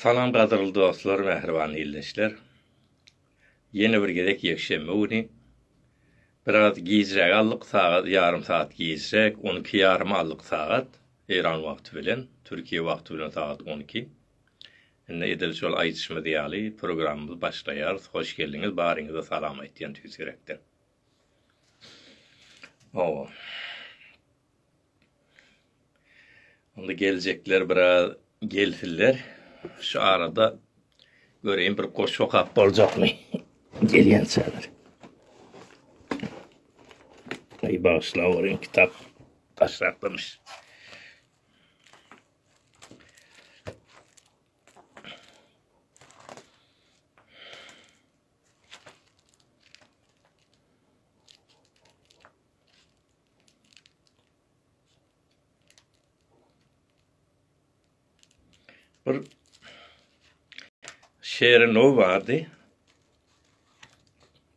Salam gadyrly dostlar, mähriban ildeşler. Ýene bir gezek ýekşenbe güni biraz gijräk aldyk, sagat ýarym saat gijräk, on iki ýarymy aldyk sagat, Eýran wagty bilen, Türkiýe wagty bilen sagat on iki. Indi edil şol aýdyşymyz ýaly programymyzy başlaýarys. Hoş geldiňiz, baryňyza salam aýtýan tüýs ýürekden. Hawa. Onda geljekler biraz gelsinler. Şu arada göreýin bir goş okap boljakmy? Gelýänçäler. Ay bağışla olayım kitap taşraklamış. Bir şerinow bardy.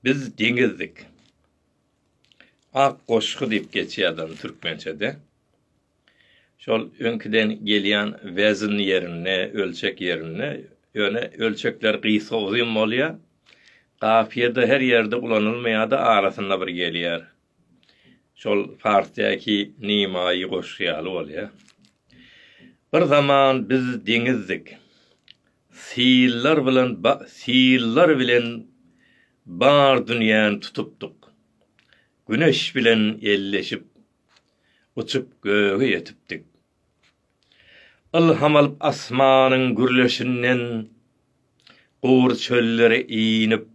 Biz deňizdik. Ak goşgy diýip geçýärdi türkmençede. Şol öňküden gelýän wezn ýerinde, ölçek ýerinde, ýöne ölçekler gysga uzyn bolýar. Gafiýede her ýerde ulanylmaýar-da, arasynda bir gelýär. Şol partiýaky nemaýy goşgy ýaly bolýar. Bir zaman biz deňizdik. Sillar bilen sillar bilen bar dünýäni tutupdyk. Güneş bilen elleşip, uçup göge ýetipdik. Ylham alyp asmanyň gürleşinden, Gury çöllere inip,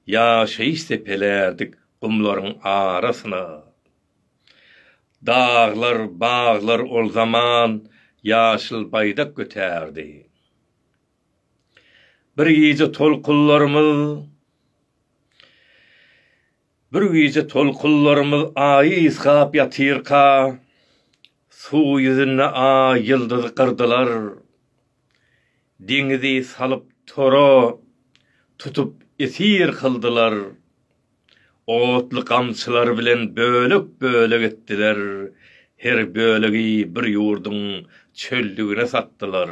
ýaşaýyş sepelerdik gumlaryň arasyna. Daglar, baglar ol zaman ýaşyl baýdak göterdi. Bir gije tolkunlarymyz Bir gije tolkunlarymyz Aýy ysgap ýatyrka, Suw ýüzünde Aý, ýyldyz gyrdylar. Deňizi salyp tora, Tutup esir kyldylar. Otly gamçylar bilen Bölek-bölek etdiler, Her bölegi bir ýurduň Çöllügine satdylar.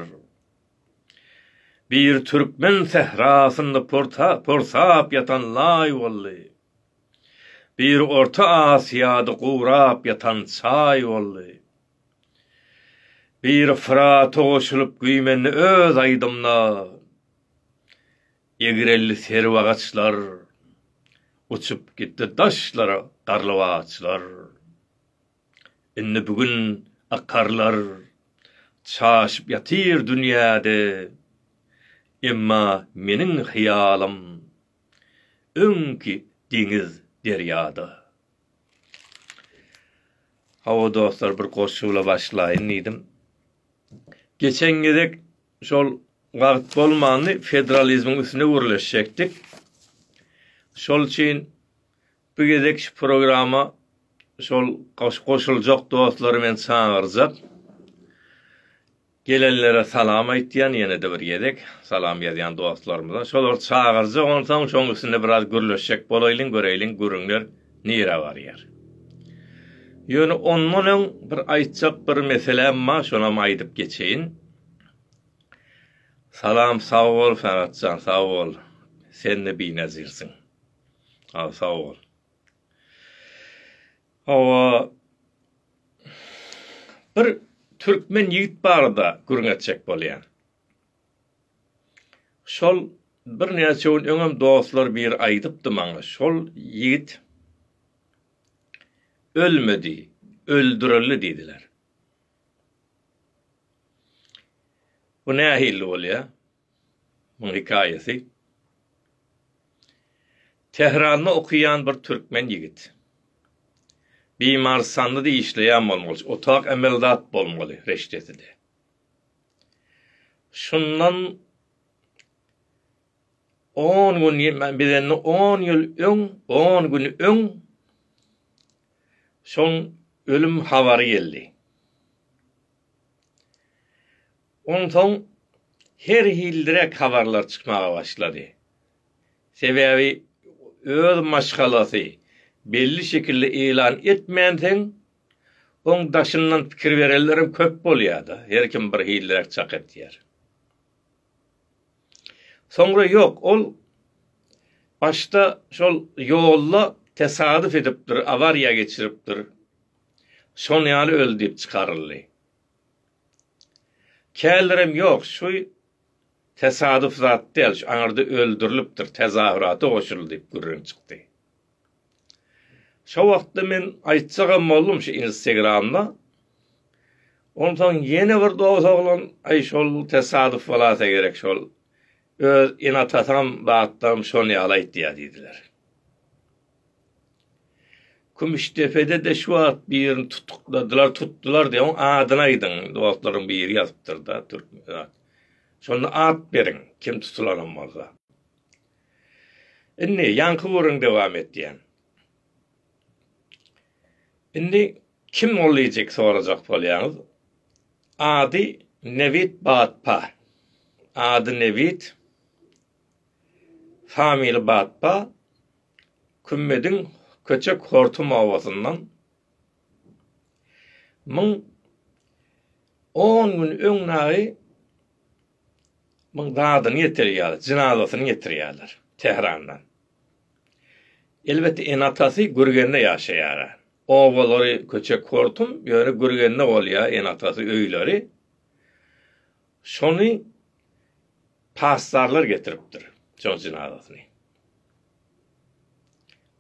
Bir türkmen sährasynda porsap ýatan laý boldy. Bir Orta Asiýada gurap ýatan çaý boldy. Bir Fyrata goşulyp güýmendi öz aýdymyna Egreldi serwi agaçlar, uçup gitdi daşlara garlybaçlar. Indi bu gün akarlar Çaşyp ýatyr dünýäde Emma meniň hyýalym Öňki deňiz derýada. Hawa dostlar bir goşgy bile başlaýyn diýdim. Geçen gezek şol wagt bolmandy federalizmiň üstüne gürleşjekdik. Şol üçin Bu gezek şu programa şol goşuljak dostlary men çagyrjak. Gelenlere salam aýtýan ýene-de bir gezek. Salam ýazýan dostlarymyza. Şolary çagyrjak onsoň şoň üstünde biraz gürleşjek bolaýlyň göreýliň gürrüňler nirä barýar. Ýöne ondan öň bir aýtjak bir meseläm bar şonam aýdyp geçeýin. Salam sag bol Sagatjan sag bol. Sen-de binezirsiň. Abi sag bol. Hawa. Bir türkmen ýigit barada gürrüň etjek bolýan. Şol bir näçe gün öňem dostlar bir aýdypdy maňa. Şol ýigit ölmedi, öldürildi diýdiler. Bu nähili bolýar? Muň hekaýasy, Tähranda okaýan bir türkmen ýigit. Bimarystanlyda işleýän bolmaly, otag emeldat bolmaly reşdeside. Şundan on gün bizende on ýyl öň, on gün öň şoň ölüm habary geldi. Onsoň her hildirek habarlar çykmaga başlady. Sebäbi öz maşgalasy belli şekilde ýylan etmänsiň, oň daşyndan pikir berenlerem köp bolýar-da, her kim bir hildirek çak etýär. Soňra ýok, ol başda şol ýolda tesadyf edipdir, awariýa geçiripdir, şon ýaly öl diýip çykaryldy. Kälerem ýok, şu tesadyf zat däl, şu aňyrda öldürilipdir, tezahürata goşuldy diýip gürrüň çykdy. Şo wagtda men aýtjagam boldum şu Instagramda. Onsoň ýene bir dost oglan, Aý, şol tesadyf bolasa gerek, şol öz ene-atasam, batdam şony ýaly aýtýar diýdiler. Kümüşdepede-de şu wagt birini tutukladylar, tutdular diýip, oň adyny aýdyň, dostlaryň biri ýazypdyr-da, türkmen. Şonda at beriň, kim tutulanam bolsa. Indi ýaňky gürrüň dowam etýän. Indi kim ol diýjek sorajak bolýaňyz. Ady Nebit Batpa. Ady Nebit. Family Batpa. Kümmediň köçek hortum owasyndan müň on gün öň dagy müň dadyny getirýär, jynazasyny getirýärler Tehrandan. Elbetde ene-atasy Gürgende ýaşaýar. Obalary köçek hortum, ýöne Gürgende bolýar ene-atasy öýleri. Şony pasdarlar getiripdir, şol jynazasyny.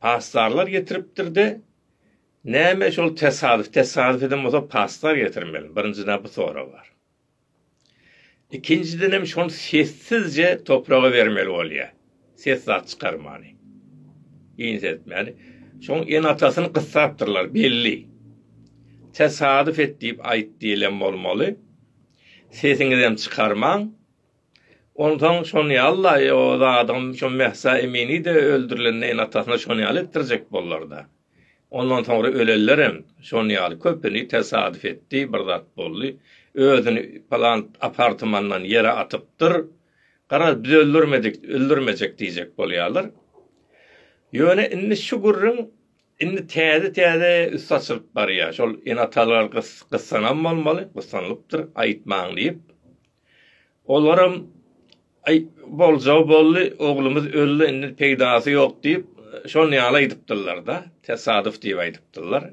Pasdarlar getiripdir-de, näme şol tesadyf, tesadyf edem bolsa pasdar getirmeli, birinjiden bu sorag bar. Ikinjidenem şony sessizje topraga bermeli bolýar. Ses zat çykarmany. Giň sesmäni. Şoň en atasyny gyssapdyrlar, belli. Tesadyf et diýip aýt diýilen bolmaly. Sesiňizem çykarmaň. Onsoň şony ýaly-la, o zadam şu Mehsa Emini-de öldürilende ene-atasyna şony ýaly etdirjek bollar-da. Ondan soňra ölenlerem şony ýaly köpüni tesadyf etdi, bir zat boldy. Özüni palan apartmandan ýere atypdyr. Garaz, biz öldürmedik, öldürmejek diýjek bolýarlar. Ýöne indi şu gürrüň Indi täze-täze üst açylyp barýar. Şol ene-atalar gyssanam bolmaly, gyssanylypdyr, aýtmaň diýip. Olaram, Aý, boljagy boldy, oglumyz öldi, indi peýdasy ýok diýip, şon ýaly aýdypdyrlar-da, tesadup diýip aýdypdyrlar.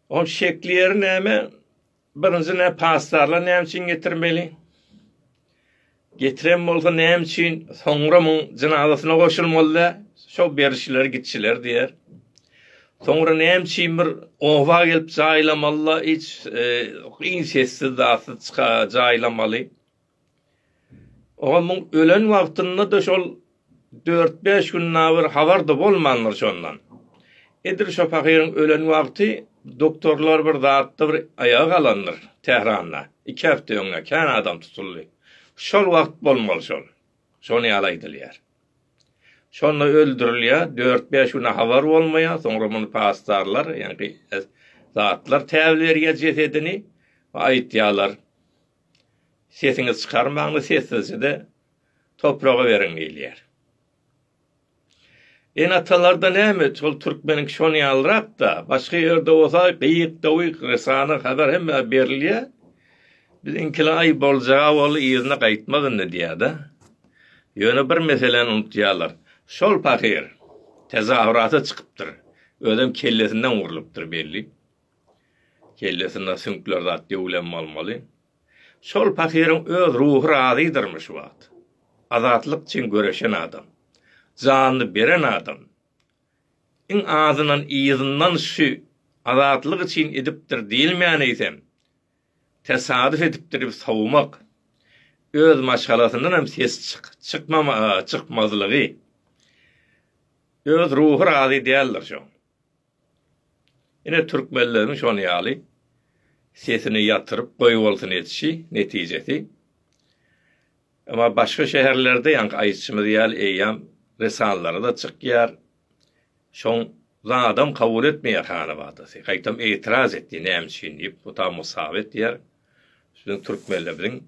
Ol şekli ýeri näme, Birinji ne pasdarlar näme üçin getirmeli? Getiren bolsa näme üçin soňra muň jynazasyna goşulmaly? Şo berişiler gitçiler diýer. Soňra näme üçin bir oba gelip jaýlamaly? Hiç e, in sessiz dasyz çyka jaýlamaly. Oňa muň ölen wagtynda-da şol dört-bäş günnabyr habar-da bolmandyr şondan. Edil şo pahyryň ölen wagty doktorlar bir zatda bir aýaga galandyr Tähranda. Iki hepde öňe kän adam tutuldy. Şol wagt bolmaly şol. Şony ýaly aýdylýar. Şonda öldürilýär, dört-bäş güne habar bolmaýar, soňra muny passarlar, ýaňky zatlar täl berýär jesedini we aýtýarlar, Sesiňizi çykarmaň-da sessizje-de topraga beriň diýilýär. Ene-atalarda näme şol türkmeniňki şon ýalyrak-da, başga ýerde bolsa gyýyk dowyk resana habar hemmä berilýär. Biziňkile aý boljaga boldy yzyna gaýtmaz indi diýýär-de. Ýöne bir meseläni unutýarlar. Şol pahyr tezahurata çykypdyr. Özem kellesinden urlupdyr belli. Kellesinde süňkler zat döwlen bolmaly. Şol pahyryň öz ruhy razydyrmy şu wagt. Azatlyk çyn göreşen adam. Janyny beren adam. Iň azyndan yzyndan şu azatlyk çyn edipdir diýilmän eýsem, tesadyf edipdir diýip sowmak, öz maşgalasyndan hem ses çykmazlygy, öz ruhy razy däldir şoň. Ine türkmenleriň şon ýaly sesini ýatyryp goýbolsun edişi netijesi. Emma başga şäherlerde ýaňky aýytşymyz ýaly eýýam resanlara-da çykýar. Şoň zadam kabul etmeýär hanabadasy. Gaýtam etiraz etdi näme üçin diýip bu ta musaba etýär. Şunuň türkmenlerimiziň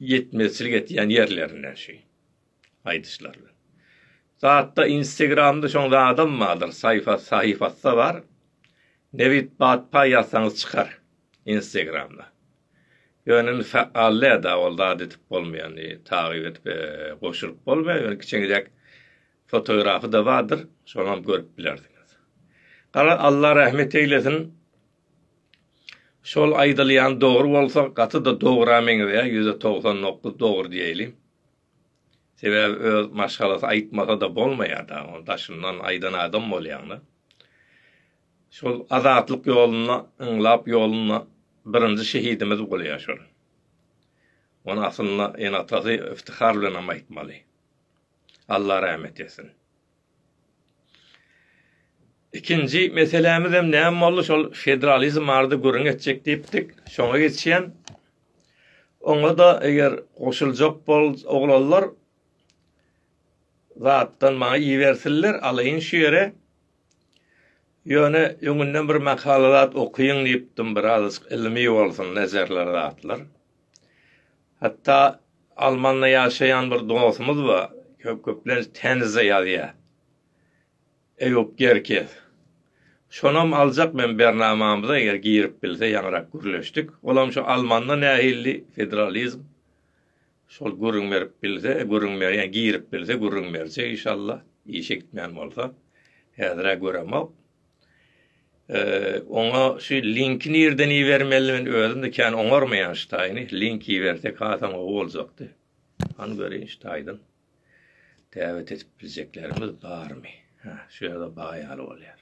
ýetmezçilik etýän ýerlerinden şü. aýdyşlarly zatda instegramda şoň zadam bardyr saýfa sahypasda bar nebit bat paý ýazsaňyz çykar instegramda ýöne indi faalledä ol zat edip bolmaýan tagyp edip goşulyp bolmaýar ýöne kiçeňijek fotografy da bardyr şonam görüp bilersiň Gara Allah rahmet eylesin. Şol aýdylýan dogry bolsa, gaty-da dogra meňzeýär, 199 dogry diýeýli. Sebäbi öz maşgalasy aýtmasa-da bolmaýar dagy, ony daşyndan aýdan adam bolýaňda. Şol azatlyk ýolunda, yňlap ýolunda birinji şehidimiz bolýar şol. Ony aslynda ene-atasy yftihar bilen hem aýtmaly. Alla rahmet etsin. Ikinji meselämizem näme boldy? Şol federalizm barada gürrüň etjek diýipdik. Şoňa geçýän. Oňa-da eger goşuljak bol oglanlar zatdan maňa ibersinler, alaýyn şu ýere. Ýöne öňünden bir makala zat okaýyň diýipdim, biraz ylmy bolsun, nejerler zatlar. Hatda Almanda ýaşaýan bir dostumyz bar, köp-köplenç Tenze ýazýar. Eýup Gerkez. Şonam aljak men bernamamyza eger girip bilse ýaňyrak gürleşdik. Olam şu Almanda nähilli federalizm şol gürrüň berip bilse, gürrüň berýän girip bilse gürrüň berjek inşallah, işe gitmän bolsa. Häzirä göremok. Oňa şu linki nirden ibermeli men özüm de kän oňarmaýan şu taýyny link ibersek hasam gowy boljakdy. An göreýin şu taýdan. Täbet edip biljeklerimiz barmy? Ha, şu ýerde bar ýaly bolýar.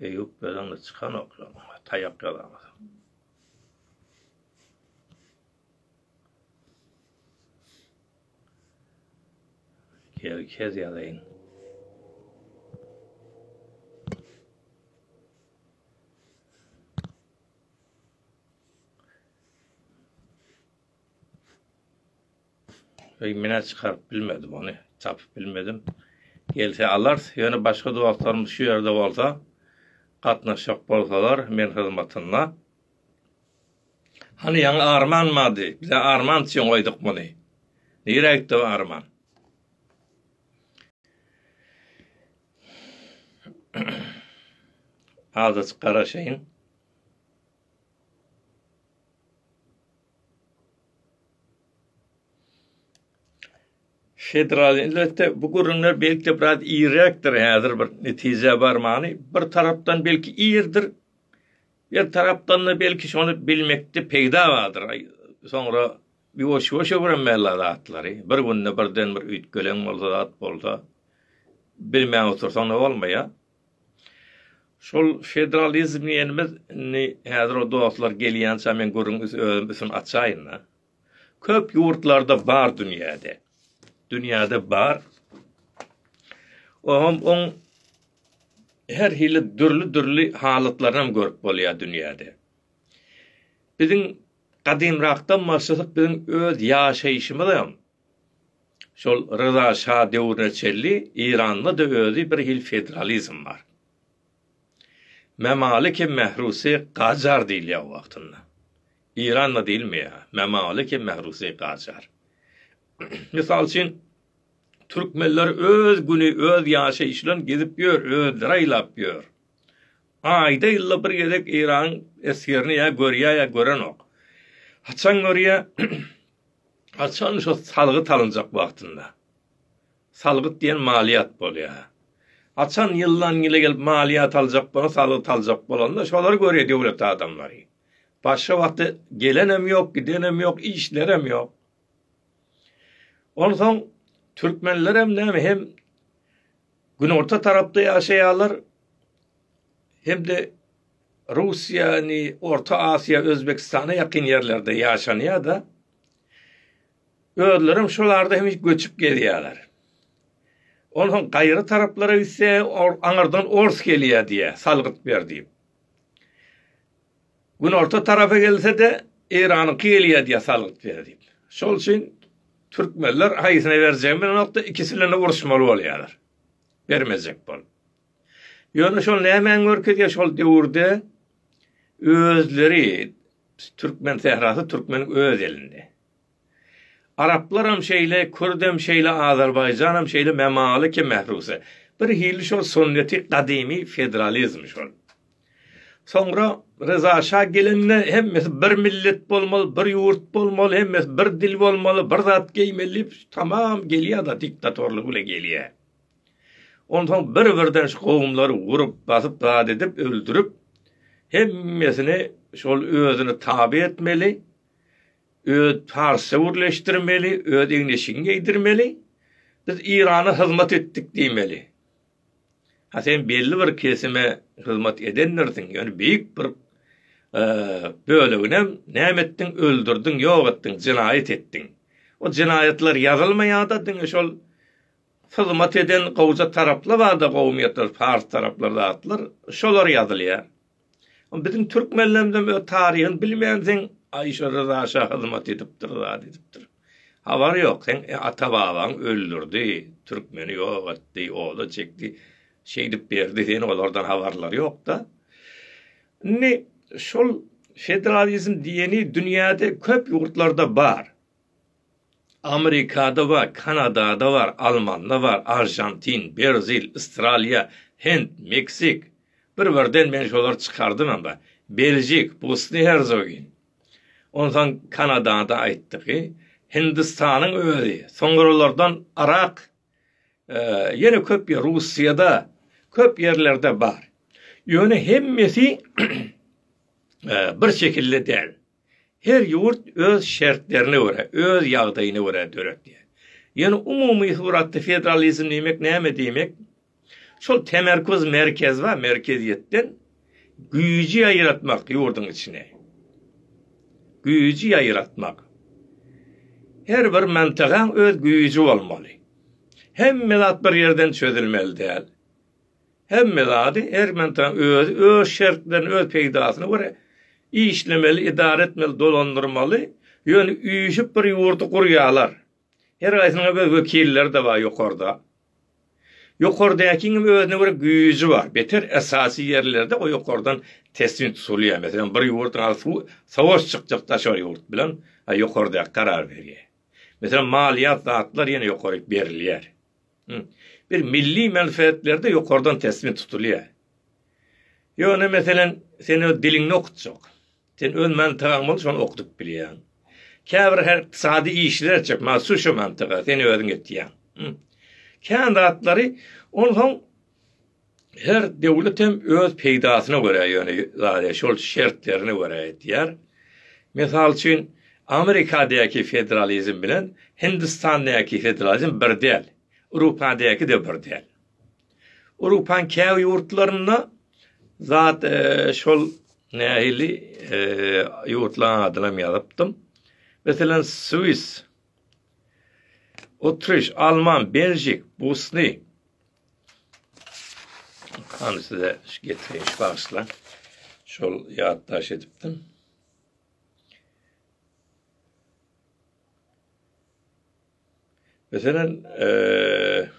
Eýup bilen de çykan oklar. Taýak ýalamaz. Çerkez ýazyň. Öý menä çykaryp bilmedim ony. Tapyp bilmedim. Gelse alarys. Ýöne başga dostlarymyz şu ýerde bolsa, gatnaşjak bolsalar men hyzmatynda. Hany ýaňy arman bardy, bize arman üçin goýduk muny. Nirä gitdi bu arman? Azajyk garaşaýyň. Federal elbetde bu gürrüňler belki de biraz irräkdir häzir bir netijä barmany. Bir tarapdan belki irdir. Bir tarapdan-da belki şony bilmekde peýda bardyr, aý, soňra ýuwaş-ýuwaş öwrenmeli-la zatlary, bir günde birden bir üýtgelen bolsa, zat bolsa, bilmän otursaň-da bolmaýa. Şol federalizm diýenimiz, indi häzir o dostlar gelýänçä men gürrüňi özüm üstüni açaýyn-da. Köp ýurtlarda bar dünýäde. Dünýäde bar. Oňam oň her hili dürli-dürli halatlarynam görüp bolýar dünýäde. Biziň gadymrakdan başlasak biziň öz ýaşaýşymyzam şol Ryza şa döwrüne çenli Eýranda-da özi bir hil federalizm bar. Memalikim Mehrusi Gajar diýilýär o wagtynda. Eýranda diýilmeýär. Memalikim Mehrusi Gajar. Mysal üçin, türkmenler öz güni, öz ýaşaýşylaryny gezip ýör, özleri aýlap ýör. Aýda, ýylda bir gezek Eýranyň esgerini ýa görýär, ýa görenok. Haçan görýär? Haçan şo salgyt alynjak wagtynda. Salgyt diýen maliýat bolýar. Haçan ýyldan-ýyla gelip maliýat aljak bolan, salgyt aljak bolanda şolar görýär döwlet adamlary. Başga wagty gelenem ýok, gidenem ýok, işlerem ýok. Onsoň türkmenlerem näme hem günorta tarapda ýaşaýarlar, hem-de Russiýa, Orta Aziýa, Özbegistana ýakyn ýerlerde ýaşanýar-da. Özlerem şol arada hemişe göçüp gezýärler. Onsoň gaýry taraplara gitse, aňyrdan ors gelýär diýýär, salgyt ber diýip. Günorta tarapa gelse-de, Eýranyňky gelýär diýýär, salgyt ber diýip. Şol üçin türkmenler haýsyna berjegini bilmokda, ikisi bilen-de uruşmaly bolýarlar. Bermejek bolup. Ýöne şol nämäni görkezýär? Şol döwürde özleri türkmen sährasy türkmeniň öz elinde. Araplaram şeýle kürdem şeýle azerbaýjanam şeýle memaly ki mähruse bir hili şol sunneti gadymy federalizm şol. Soňra Ryza şa gelende hemmesi bir millet bolmaly bir ýurt bolmaly hemmesi bir dil bolmaly bir zat geýmeli tamam gelýada diktatorlyk bile gelýä. Onsoň bir birden şu gowumlary urup basyp zat edip öldürip hemmesini şol özüne tabi etmeli. öz parsa gürleşdirmeli, öz egneşigini geýdirmeli, biz Irana hyzmat etdik diýmeli. Ha sen belli bir kesime hyzmat edendirsiň, ýöne beýik bir böleginem näme etdiň, öldürdiň, ýok etdiň, jenaýat etdiň. O jenaýatlar ýazylmaýar-da, diňe şol hyzmat eden gowja taraplar bar-da, gowumyýetler, pars taraplar zatlar, şolar ýazylýar. Biziň türkmenlerimizem öz taryhyny bilmänsiň, Aýşa Ryza şa hyzmat edipdir, zat edipdir. Habary ýok, seň ata-babaň öldürdi, türkmeni ýok etdi, oda çekdi, şeýdip berdi, seniň olardan habarlary ýok-da. Indi şol federalizm diýeni dünýäde köp ýurtlarda bar. Amerikada bar, Kanadada bar, Almanda bar, Arjantin, Berzil, Istraliýa, Hent, Meksik. Bir birden men şolary çykardym amba. Beljik, Bosni Herzogin. Onsoň Kanadada aýtdygy, Hindistanyň özi, soňralardan Arak, ýene köp ýer Russiýada, köp ýerlerde bar. Ýöne hemmesi bir şekilde däl. Her ýurt öz şertlerine görä, öz ýagdaýyna görä döretýär. Ýöne umumy suratda federalizm diýmek näme diýmek? Şol temerkuz merkez bar, merkeziýetden güýji ýaýratmak ýurduň içine. Güýji ýaýratmak. Her bir mantagaň öz güýji bolmaly. Hemme zat bir ýerden çözülmeli däl. Hemme zady Ermentan özi öz şertlerini öz peýdasyna görä işlemeli edara etmeli dolandyrmaly ýöne üýşüp bir ýurdy gurýalar her gaýsynyň hem öz wekilleri de bar ýokarda ýokardäkiňem özüne görä güýji bar beter esasy ýerlerde o ýokardan teslim tutulýar meselem bir ýurt alsu sowaş çykjak daşary ýurt bilen a ýokardäki karar berýär meselem maliýat zatlar ýene ýokaryk berilýär. Bir milli menfeetlerde ýokardan tesbih tutulýar. Ýöne meselen sen öz diliňde okutjak. Sen öz mantagaň bolup şony okudyp bilýäň. Käbir her ykdysady işler etjek mahsus şu mantaga sen özüň etýäň. Kän zatlary onsoň Her döwlet hem öz peýdasyna görä ýöne zady şol şertlerine görä etýär. Mysal üçin, Amerikadäki federalizm bilen Hindistandäki federalizm bir däl. Urupadaky-da bir däl. Urupanyň käbir ýurtlarynda zat şol nähili ýurtlaryň adyny hem ýazypdym. Meselem, Swis, Otriş, Alman, Belgik, Bosni, Hany size şu getirin şu bagyşla. Şol ýatdaş edipdim. Meselen, eee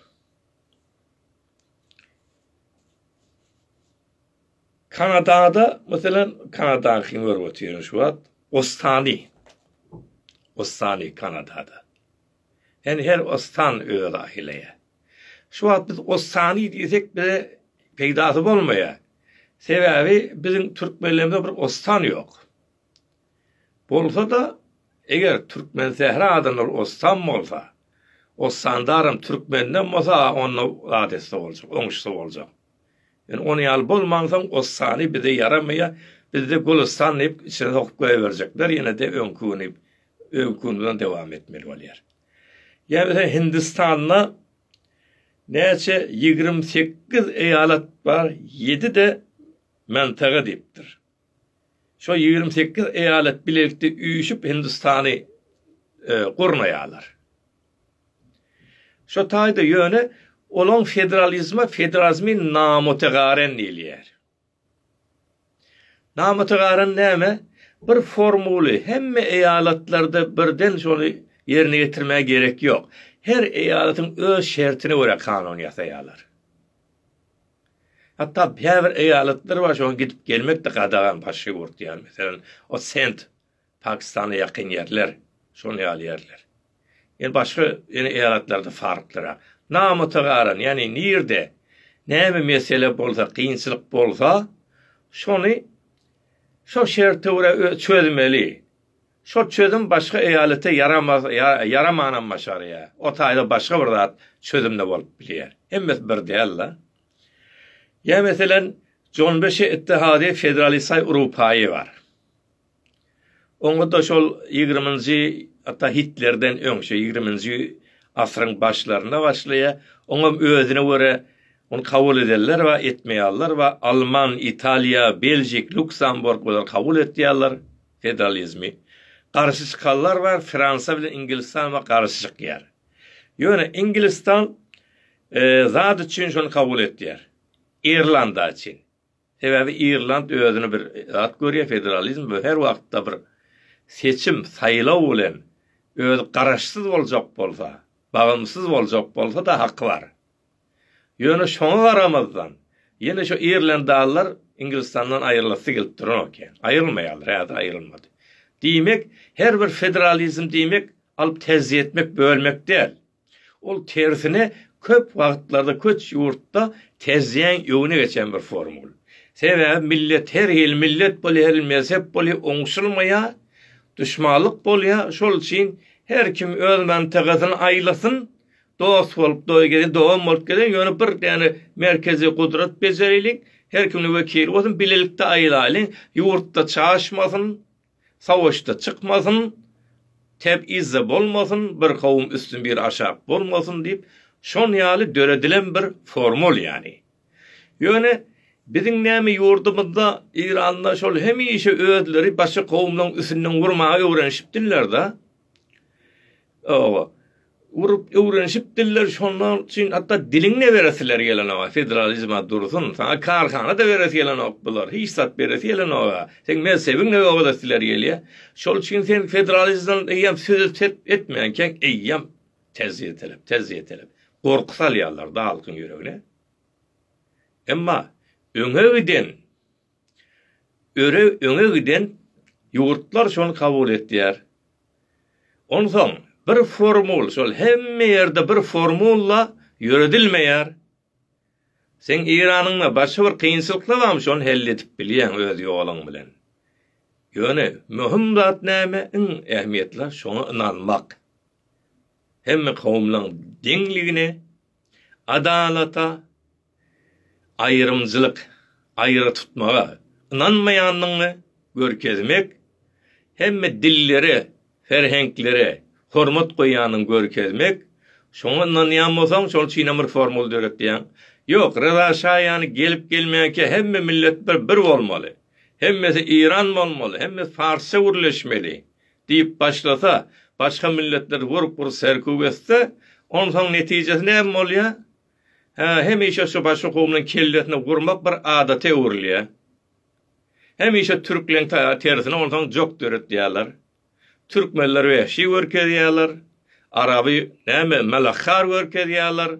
Kanadada, meselen, Kanadany kim görüp otyryň şu wagt? Ostani. Ostani Kanadada. Yani her ostan öz ahileýär. Şu wagt biz Ossany diýsek bize peýdasy bolmaýar. Sebäbi biziň türkmenlerimizde bir Ossan ýok. Bolsa-da, eger Türkmensähra adyndan Ossan bolsa, Ossandaram türkmenden bolsa onda adesde boljak, oňuşda boljak. Ýöne ony ýaly bolmansoň Ossany bize ýaramaýar. Bizde Gülüstan diýip içine sokup goýberjekler, ýene-de öňki güni öňki günden dowam etmeli bolýar. Ýa bile Hindistanda näçe ýigrimi sekiz eýalat bar, ýedi-de mentaga diýipdir. Şo ýigrimi sekiz eýalat bilelikde üýşüp Hindistany gurnaýarlar. Şo taýda ýöne olaň federalizme federazmin namutagaren diýilýär. Namata garan näme? Bir formuly hemme eýalatlarda birden şony ýerine ýetirmäge gerek ýok. Her eýalatyň öz şertine görä kanun ýasaýarlar. Hatda käbir eýalatlar bar şoňa gidip gelmek-de gadagan başga ýurt ýaly meselem o sent Pakistana ýakyn ýerler şol ýaly ýerler. Ýöne başga ýöne eýalatlarda farklyrak. Namata garan, ýagny nirde näme mesele bolsa, kynçylyk bolsa, şony şo şerte görä özi çözmeli. Şo çözüm başga eýalata ýaramasa, ýaramanam başarýa. O taýda başga bir zat çözümde bolup bilýär. Hemmesi bir däl-de. Ýa meselem Jonbeşe Ittihadyýe Federalisaý Urupaýy bar. Oňa-da şol ýigriminji, hatda Hitlerden öň, şu ýigriminji asyryň başlarynda başlaýar. Oňam özüne görä ony kabul edenler bar, etmeýänler bar. Alman, Italiýa, Beljik, Luksemburg bular kabul etýärler federalizmi. Garşy çykanlar bar, Fransiýa bilen Iňgilistan we garşy çykýar. Ýöne Iňgilistan zat üçin şony kabul etýär. Irlandiýa üçin. Sebäbi Irland özüni bir zat görýär, federalizm bu her wagtda bir seçim, saýlaw bilen özi garaşsyz boljak bolsa, baglymsyz boljak bolsa-da haky bar. Ýöne şoňa garamazdan, ýene şu irlandalylar Iňlistandan aýrylasy gelip duranok ýa, aýrylmaýarlar, häzir aýrylmady. Diýmek, her bir federalizm diýmek alyp täjiz etmek, bölmek däl. Ol tersine köp wagtlarda köç ýurtda tezzeň öňüne geçen bir formul. Sebäbi millet her hili millet bolýa, her hili mezhep bolýa, oňuşylmaýa, duşmanlyk bolýa, şol üçin her kim öz mantagasyny aýlasyn, dost bolup doý gezin, dogan bolup gezin, ýöne bir däne merkezi gudrat bejereliň, her kimde wekili bolsun, bilelikde aýlalyň, ýurtda çaşmasyn, Sawaşda çykmasyn, tebizde bolmasyn, bir kowum üstün biri aşak bolmasyn diýip, şon ýaly döredilen bir formol ýany. Ýöne biziň näme ýurdumyzda, Eýranda şol hemişe özleri başga kowumlaň üsünden urmaga öwrenişipdinler-da. Oba. Urup öwrenişip diller şondan üçin hatda diliň de beresi ler gelenok federalizma dursun sana karhana da beresi gelenok bular hiç zat beresi gelenok seň mezhebiň de ýok edesi ler gelýä şol üçin sen federalizmden eýýäm söz et etmänkäň eýýäm tez ýetelep tez ýetelep gorky salýarlar da halkyň ýüregine emma öňe giden Öre öňe giden ýurtlar şony kabul etýär. Onsoň bir formul şol hemme ýerde bir formula ýöredilmeýär. Seň Iranyňda başga bir kynçylyklar barmy şony hell edip bilýäň öz ýoluň bilen. Ýöne möhüm zat näme iň ähmiýetli şoňa ynanmak. Hemme kowumlaň deňligine, adalata, aýrymçylyk, aýra tutmaga ynanmaýandygyny görkezmek hemme dillere, ferhenklere hormat goýýandygyny görkezmek, şoňa ynanýan bolsaň, şonuň üçinem bir formula döretýäň. Ýok, Reza şa ýany gelip-gelmänkä hemme millet bir, bir bolmaly. Hemmesi Iran bolmaly, hemmesi Farsça gürleşmeli diýip başlasa, başga milletler wurk-wurk serkup etse, onsoň netijesi näme bolýar? Hä, hemişe şu başga kowumlaryň kellesine urmak bir adata öwrülýär. Hemişe türkleň tersine onsoň jok döretýärler. Türkmenleri wehşi görkezýärler, araby näme melakhar görkezýärler.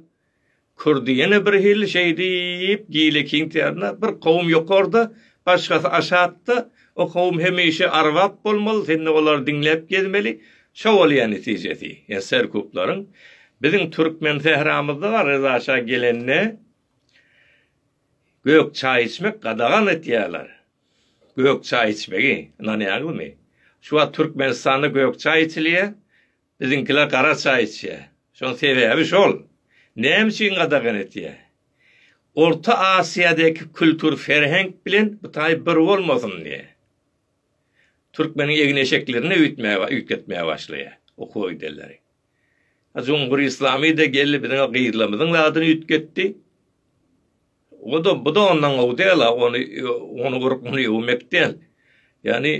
Kürdi ýene bir hili şeýdip gile kiňtýärler. Bir kowum ýokarda, başgasy aşakda. O kowum hemişe arbap bolmaly, sen-de olary diňläp gezmeli. Şo bolýa netijesi, eser kuplaryň biziň türkmen sähramyzda bar, Ryza şa gelende gök çaý içmek gadagan etýärler. Gök çaý içmegi, ynanýaňyzmy? Şu wagt Türkmenistanda gök çaý içilýä, biziňkiler gara çaý içýä. Şoň sebäbi şol. Näme üçin gadagan etýä? Orta Asiýadaky kültur ferhenk bilen bu taý bir bolmasyn diýä. Türkmeniň egin-eşeklerini öýütmäge, üýtgetmäge başlaýar. Okuwa gidenleri. A Juňňur Islamy-da geldi, biziň-ä gyzlamyzyň zadyny üýtgetdi. O-da, bu-da ondan gowy däl-ä, ony, ony görüp, ony öwmek däl. Ýagny,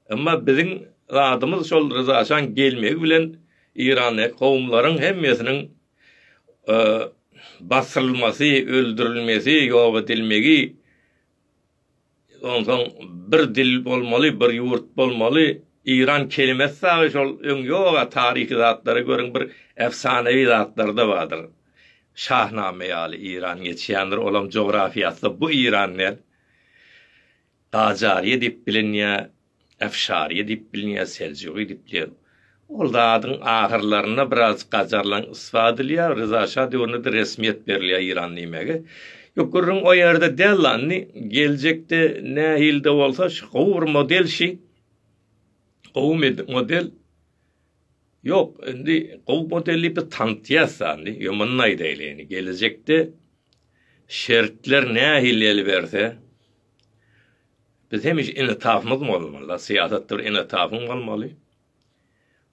emma biziň zadymyz şol Ryza şaň gelmegi bilen Eýrandaky kowumlaryň hemmesiniň basyrylmasy, öldürilmesi, ýok edilmegi, Onsoň bir dil bolmaly, bir ýurt bolmaly. Iran kelimesi dagy şol öň ýog-a, taryhy zatlary görüň, bir efsanewi zatlar-da bardyr. Şahnama ýaly Iran geçýändir, olam jografiýasy bu Iran däl. Gajariýe diýip bilinýär. Efşaryýe diýip bilinýär, Seljugy diýip bilinýär. Ol zadyň ahyrlarynda biraz gajarlaň ysbap edilýär. Ryza şa döwründe-de resmiýet berilýär Iran diýmäge. Ýok, gürrüň o ýerde däl-la, indi geljekde nähili-de bolsa şu gowy bir model şi, gowy model, ýok, indi gowy model diýip biz tanydýas-da indi, ýomanyny aýdaýly, indi gelejekde şertler nähili el berse, Biz hemişe Enetapymyz bolmaly, syýasatda bir Enetapyň bolmaly.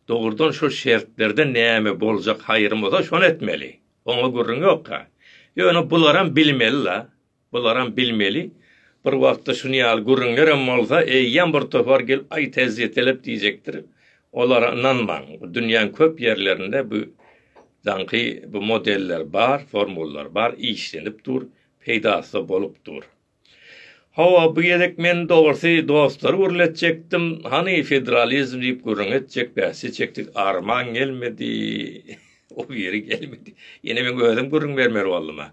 Dogrudan şol şertlerde näme boljak haýrym bolsa şony etmeli. Oňa gürrüň ýok-a. Ýöne bularam bilmeli-la. Bularam bilmeli. Bir wagtda şuny ýaly gürrüňlerem bolsa, eýýäm bir topar gelip, Aý tez ýetelep diýjekdir. Olara ynanmaň. Dünýäň köp ýerlerinde bu daňky bu modeller bar, formulalar bar, işlenip dur, peýdasy-da bolup dur. Hawa, bu gezek men dogrusy dostlary gürletjekdim, hany federalizm diýip gürrüň etjek, bäsje çekdik, arman gelmedi, o biri gelmedi. Ýene meň özüm gürrüň bermeli boldum-a.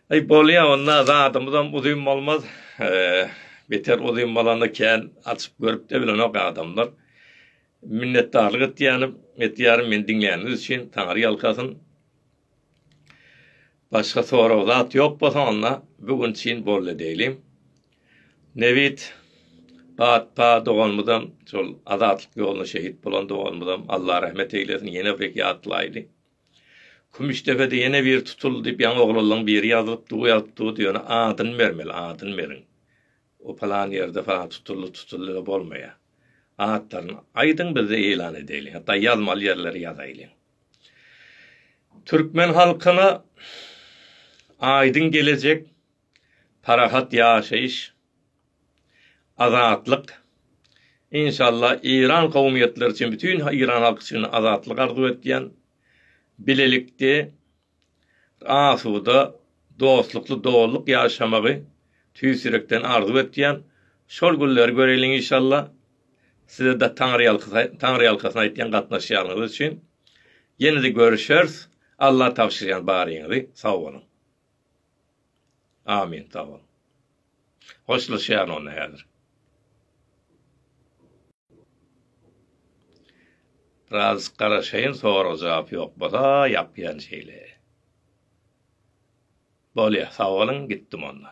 Aý, bolýa onda, zadymyzam uzyn bolmaz. Beter uzyn bolanda kän açyp görüp-de bilenok adamlar. Minnetdarlyk etýänim, etýärin meni diňläniňiz üçin, Taňry ýalkasyn. Başga sorag zat ýok bolsa onda bu gün çyn boldy edeýliň. Nebit Batpa doganymyzam şol azatlyk ýolunda şehit bolan doganymyzam Allah rahmet eýlesin ýene bir ýatlaýly. Kümüşdepede ýene biri tutuldy diýip ýaňy oglanlaň biri ýazylypdy bu ýazypdy bu ýöne adyny bermeli adyny beriň. O palan ýerde falan tutuldy tutuldy diýip bolmaýa. Atlaryny aýdyň bizde ýylan edeýliň hatda ýazmaly ýerleri ýazaýlyň. Türkmen halkyna aýdyň gelejek, parahat ýaşaýyş, azatlyk, inşallah Eýran kowumýetleri üçin bütin Eýran halky üçin azatlyk arzuw etýän. Bilelikde Asuda, dostlukly dolulyk ýaşamagy tüýs ýürekden arzuw etýän. Şol günleri göreýliň inşalla. Size-de taňryýalkasyn aýtýan gatnaşýanyňyz üçin. Ýene-de görüşeris. Alla tabşyrýan baryňyzy. Sag boluň. Amin sag bol. Hoşlaşýan onda häzir. Biraz garaşaýyn soraga jogap ýok bolsa ýapýan şeýle. Bolýa sag boluň gitdim onda.